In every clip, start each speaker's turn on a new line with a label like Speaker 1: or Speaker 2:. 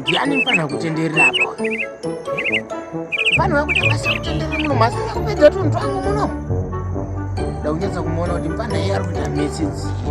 Speaker 1: ndiani mfana kutenderera apo mfana wakuti basa kutenderera muno masina kupedza tunhu twangu muno ndaunyatsa kumuona kuti mfana iye ari kuita mesi dzipi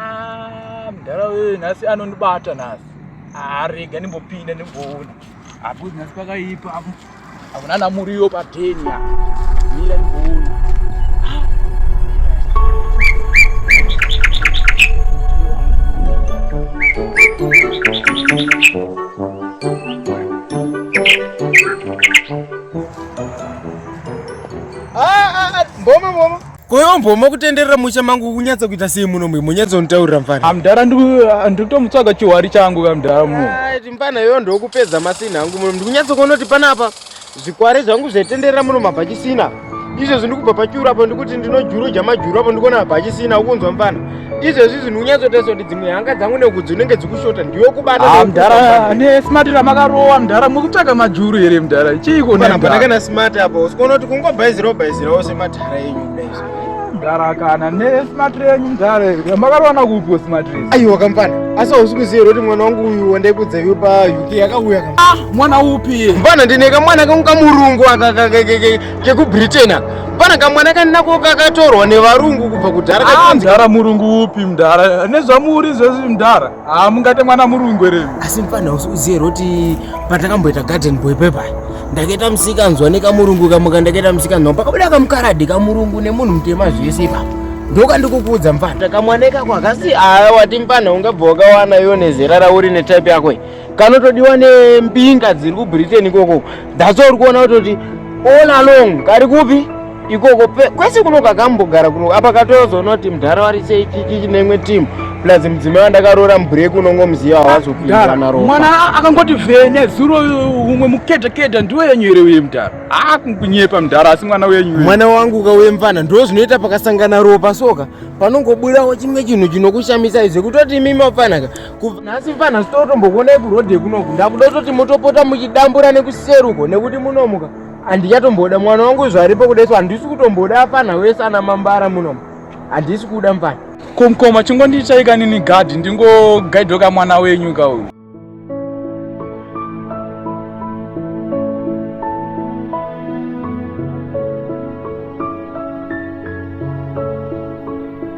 Speaker 2: Ah, mdara wewe nhasi anondibata nhasi. Ah, rega ndimbopinda ndimboona. Apo nhasi pakaipa apo. Apo nana muriyo pateni ya. Mira ndimboona. Ah, ah, ah, mboma mboma. Koyo mboma
Speaker 1: kutenderera musha mangu kunyatsa kuita sei muno mwe munyatsa unitaurira mfana. Amdara ndikutomutsvaga
Speaker 2: chiwari changu kamdara mu. Right mfana yoyo
Speaker 1: ndokupedza masina hangu muno ndikunyatsa kuona kuti panapa zvikware zvangu zvetenderera muno mabhachisina. Izvo zvindikubva pachuru apo ndikuti ndinojuru jamajuru apo ndikuona mabhachisina ukunzwa mfana. izvezvi zvinhu unyatsotarisa kuti dzimwe hanga dzangu nekudzi unenge dzikushota ndiwe kubatamdhara nesmart
Speaker 2: ramakarowa mdhara mukutsvaga majuru here mdhara chiiko nepandakana smart
Speaker 1: apa usikuona kuti kungobhaizirawo bhaizirawo sematara enyu kudaiso mdhara
Speaker 2: kana nesmart renyu mdhara ramakarowana kupiwo smart res aiwa kamfana asi
Speaker 1: hausi kuziva here kuti mwana wangu uyu wandaikudza iwe pauk yakauya ah, mwana upi
Speaker 2: mfana ndine kamwana
Speaker 1: kangu kamurungu akakakekeke kekubritain pana kamwana kaninako kakatorwa nevarungu kubva kudhara ah, mdhara murungu
Speaker 2: upi mdhara nezvamuri zvezi mdhara haa ah, mungate mwana murungu ere asi mfana usiuziye
Speaker 1: roti patakamboita garden boy pepa ndakaita musikanzwa nekamurungu kamuka ndakaita musikanzwa pakabuda kamukaradi kamurungu nemunhu mutema zvese ipapo ndoka ndikukuudza mfana takamwana ikako akasi haa wati mfana ungabva wakawana iwo nezera rauri netype yako kanotodiwa nembinga dziri kubritain ikoko that's all kuona kutoti all along kari kupi ikoko kwese kuno kakambogara kuno apa katozoona kuti mdhara wari sei kiki nemwe team plus mudzimai wandakaroora mubreak unongo muziva wazopindanaromwana akangoti
Speaker 2: vhene zuro umwe mukedhakeda ndiwe yenyu here uye mdhara akunyepa mdhara asi mwana wenyu mwana wangu ukauye
Speaker 1: mvana ndo zvinoita pakasangana ropa soka panongobudawo chimwe chinhu chinokushamisai zvekutoti imimi wafanaka nhasi fanhasi totombokuonai kurhodhe kunoku ndakuda kutoti motopota muchidambura nekuseruko nekuti munomuka handichatomboda mwana wangu zvaripo kuda isu handisi kutomboda afanha wese ana mambara munomu handisi kuda mfana komkoma
Speaker 2: chingondichaika nini gadhi ndingogaidhoka mwana wenyu ka uyu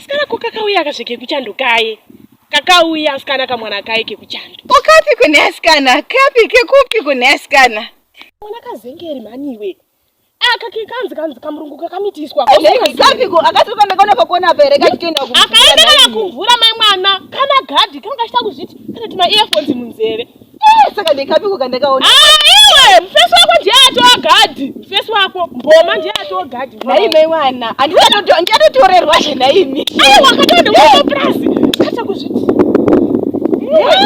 Speaker 3: Sikana ko kakauya kazve kekuchando kaye kakauya asikana kamwana kaye kekuchando okapi kune
Speaker 4: asikana kapi kekupi kune asikana mwana kazengeri
Speaker 3: maniwe aka kekanzi kanzi kamurungu kakamitiswa kapiko akatoka
Speaker 4: ndakaona pakona apa here kachitoenda akaenda kana
Speaker 3: kumvura mai mwana kana gadhi kanga kachita kuzviti kana tuma earphones munzeve Eh, saka ndekapiko
Speaker 4: kandakaona ah, iwe mufesi
Speaker 3: wako ndiye atova gadhi mufesi wako mboma ndiye atova gadhi naimei wana
Speaker 4: andiatotorerwa
Speaker 3: zve naimi
Speaker 4: aiwa
Speaker 3: katoondewaoprazi kata kuzviti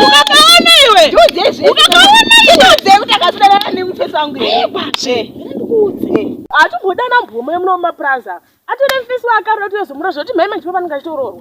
Speaker 3: ukakaona iwe ukakaona iwe kuti akasanana
Speaker 4: nemufesi wangu
Speaker 3: atombodana mboma yemuno mumapurazi ava atore mufesi waakaroda kuti yozomura zvoti mhai manjipa panenge achitoroorwa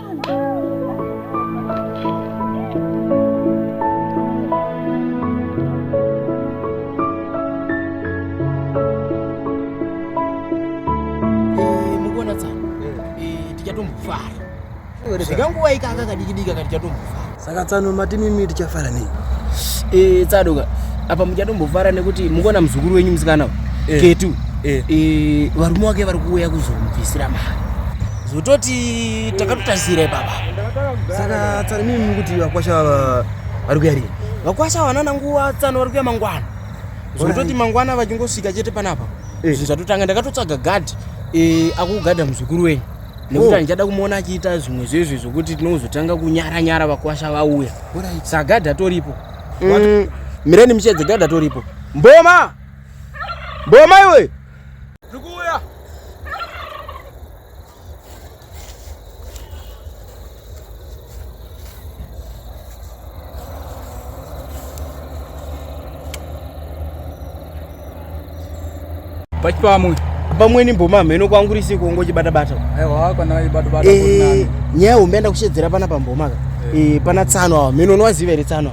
Speaker 1: zvikanguwaika akakadikidika kati chatombofara saka tsano mati
Speaker 5: mimi tichafara nei e, tsadoka
Speaker 1: apa muchatombofara nekuti mukuona muzukuru wenyu musikana e. ketu e. e, varume wake vari kuuya kuzomubvisira mari zototi takatotasira ipapa saka
Speaker 5: tsano mimi mukuti vakwasha vava vari kuya rii vakwasha vanana nguva
Speaker 1: tsano vari kuya mangwana zototi mangwana vachingosvika chete panapa zvinhu zvatotanga ndakatotsvaga gadhi akugadha muzukuru wenyu nekuti handichada oh. kumuona achiita zvimwe zvezvi zvokuti tinozotanga kunyara nyara vakwasha vauya saka gadha toripo mm. mireni michedze gadha toripo mboma mboma iwe pachipamwe pamweni mboma hameno kwangu risi kungo chibata bata aiwa kana ibata
Speaker 2: bata eh nyaya umenda kushedzera
Speaker 1: pana pamboma ka eh, eh pana tsano hameno unowaziva iri tsano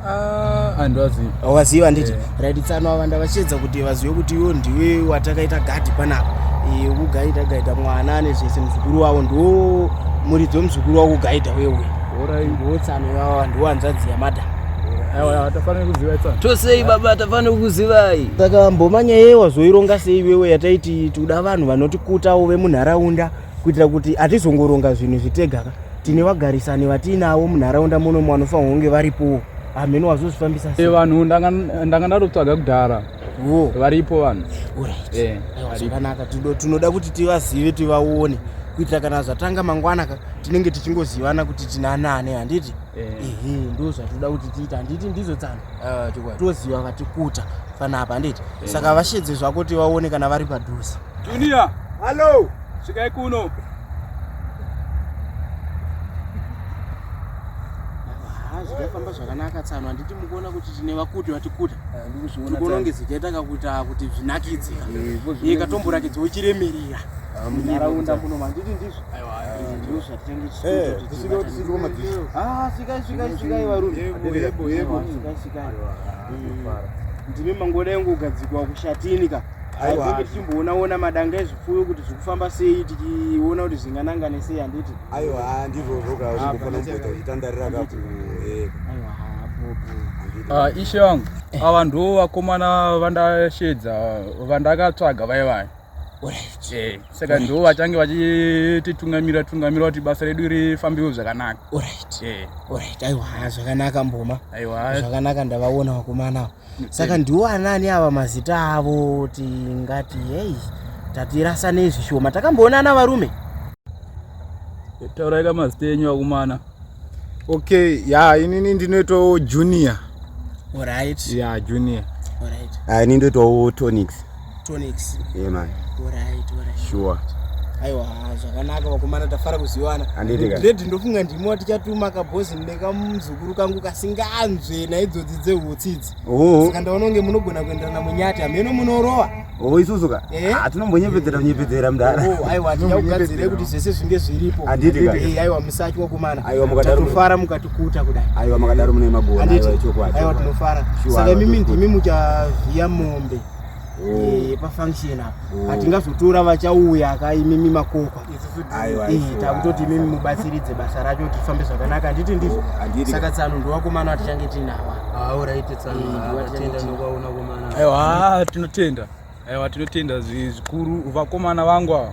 Speaker 1: Ah, andiwazivi
Speaker 2: awazivi handiti eh.
Speaker 1: right tsano ava ndavachiedza kuti vazive kuti iwo ndiwe watakaita gadhi panapa eh, kugaida gaida mwana ane zvese muzukuru wavo ndo muridzi wemuzukuru wavo kugaida wewe ndo tsano ivava ndiwo hanzvadzi yamadam
Speaker 2: tosei baba tafanira
Speaker 5: kukuzivai saka mbomanya
Speaker 1: yeye wazoironga sei iwewe yataiti tikuda vanhu vanotikuta uve munharaunda kuitira kuti hatizongoronga zvinhu zvitega ka tine vagarisani vatiinavo munharaunda muno vanofanirwa kunge varipowo hamheno wazozvifambisa e vanhu ndanga
Speaker 2: ndatotsvaga kudhara varipo vanhu eh, zvakanaka
Speaker 1: tinoda kuti tivazive tivaone kuitira kana zvatanga mangwana ka tinenge tichingozivana kuti tinanane handiti eh. ehe ndo zvatinoda kuti tiita handiti ndizo tsano ah, toziva vatikuta fanapa handiti eh. saka vashedze zvako tivaone kana vari padhuze Junior.
Speaker 2: Hello.
Speaker 5: Svikai kuno.
Speaker 1: zvikafamba zvakanaka tsano handiti mukuona kuti tine vakuti vatikuta tikuona kunge zichaita kakuita kuti zvinakidze iye katomborakidza uchiremerera munharaunda muno manditi ndizvo ndizvo zvatichange tichiikai svikai svikai varume ndimi mangoda yangu kugadzikwa kushatini ka aiwa tichimboona ona madanga ezvipfuyo kuti zvikufamba sei tichiona kuti zvinganangane sei handiti aiwa ndizvozvo
Speaker 5: ka zvingofanira kumboita uchitandarira
Speaker 2: ka eh. ah, ishe vangu eh. ava ndiwo vakomana vandashedza vandakatsvaga vai vai eh, saka ndiwo vachange vachititungamira tungamira kuti basa redu rifambiwo zvakanaka
Speaker 1: aiwa zvakanaka mboma aiwa zvakanaka
Speaker 2: ndavaona
Speaker 1: vakomana ava saka ndiwo anani ava mazita avo tingati hei tatirasa nezvishoma takamboonana varume taurai
Speaker 2: ka mazita enyu akumana okay
Speaker 6: ya inini ndinoitawo junior orit
Speaker 1: ya junior
Speaker 6: orit ini
Speaker 1: ndoitawo
Speaker 5: tonics Tonics. Yeah man. Alright,
Speaker 1: alright. Sure.
Speaker 5: Aiwa
Speaker 1: zvakanaka vakomana tafara kuziwana. Dread ndofunga ndimo tichatuma kabhozi nekamuzukuru kangu kasinganzwe naidzodzi dzehutsi idzi. Oh. Saka ndaona kunge munogona kuenderana munyati hameno munorowa. Oh isusu ka.
Speaker 5: Eh? Ah tinombonyepedzera nyepedzera mdara. Oh aiwa tichakugadzira
Speaker 1: kuti zvese zvinge zviripo. Handiti ka. Eh aiwa musati wakomana. Aiwa mukadaro tofara
Speaker 5: mukatikuta
Speaker 1: kudai. Aiwa makadaro mune magona
Speaker 5: aiwa chokwadi. Aiwa tinofara.
Speaker 1: Saka mimi ndimi muchavhiya mombe. Eh, pafunction apa oh. hatingazotora vachauya ka imimi makokwa takutoti imimi mubatsiridze basa racho kuti rifambe zvakanaka handiti ndizvo oh, saka tsano ndowakomana watichange tinawa
Speaker 5: aiwa tinotenda
Speaker 2: aiwa tinotenda zvikuru vakomana vangu ava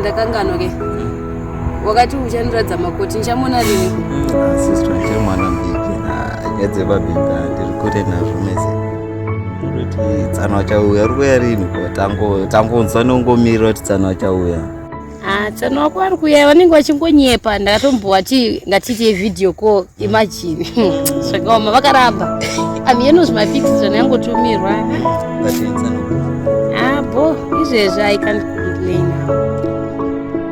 Speaker 7: ndakangano ke wakati uchandiratidza makoti nchamona rini mm, ah, sister
Speaker 8: nchamwana mbiki ah, nyaya dzebabika ndiri kure nazvo mese tsano achauya uri kuya rini tangonzwa nongomirira kuti tsano achauya ah, tsano
Speaker 7: wako ari kuya vanenge vachingonyepa ndakatombowa ti ngatiite video call imagine zvakaoma vakaramba amiyenozi mafix zvana yangotumirwa abo ah, izvezvi i can't complain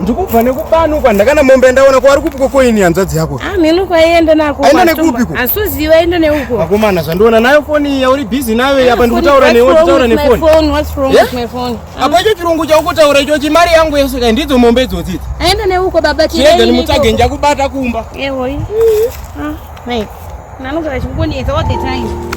Speaker 1: ndikubva nekubanukwa ndakana mombe ndaona kwari kupiko koini hanzvadzi yako amheno ah, kwaienda nako
Speaker 7: aenda nekupiko
Speaker 1: asuziva aenda neuko
Speaker 7: vakomana zvandiona nayo
Speaker 1: foni yauri busy nayo apa ndikutaura newe nditaura nefoni
Speaker 7: apa icho chirungu
Speaker 1: chaukutaura icho chimari yangu yese kai ndidzo mombe idzodzidzi aenda neuko baba
Speaker 7: tiega nimutsage
Speaker 1: njakubata kumba eoi eh.
Speaker 7: ah, mai nanogara chikungonetsa all the time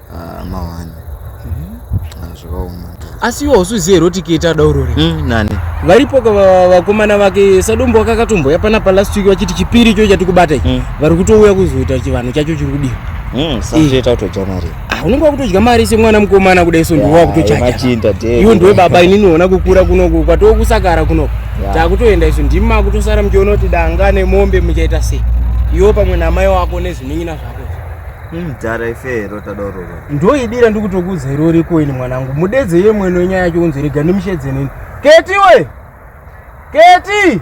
Speaker 8: Ah, mawani Ah, zvakaoma asi iwe
Speaker 1: hausizive here kuti keta daurori Mm, nani varipo
Speaker 8: ka va-
Speaker 1: vakomana vake sadombo wakakatomboya panapa last week vachiti chipiri cho chatikubata ichi Mm. vari kutouya kuzoita chivanhu chacho chiri kudiwa Mm, sazviita kutodya
Speaker 8: mari Ah, unenge wakutodya mari
Speaker 1: semwana mukomana kudai so ndiwe wakutochaja machinda iwe ndiwe baba inini ona kukura kunoku kwatoo kusakara kunoku Yeah. takutoenda isu ndimi makutosara muchiona kuti danga nemombe muchaita sei iwo pamwe namai wako nezvinin'ina zvako mdhara
Speaker 8: ife rota dororo ndoidira ndikutokuudza
Speaker 1: iro riko ini mwanangu mudedze iye mwene wenyaya yacho unzi rega ndimushedze nini keti we keti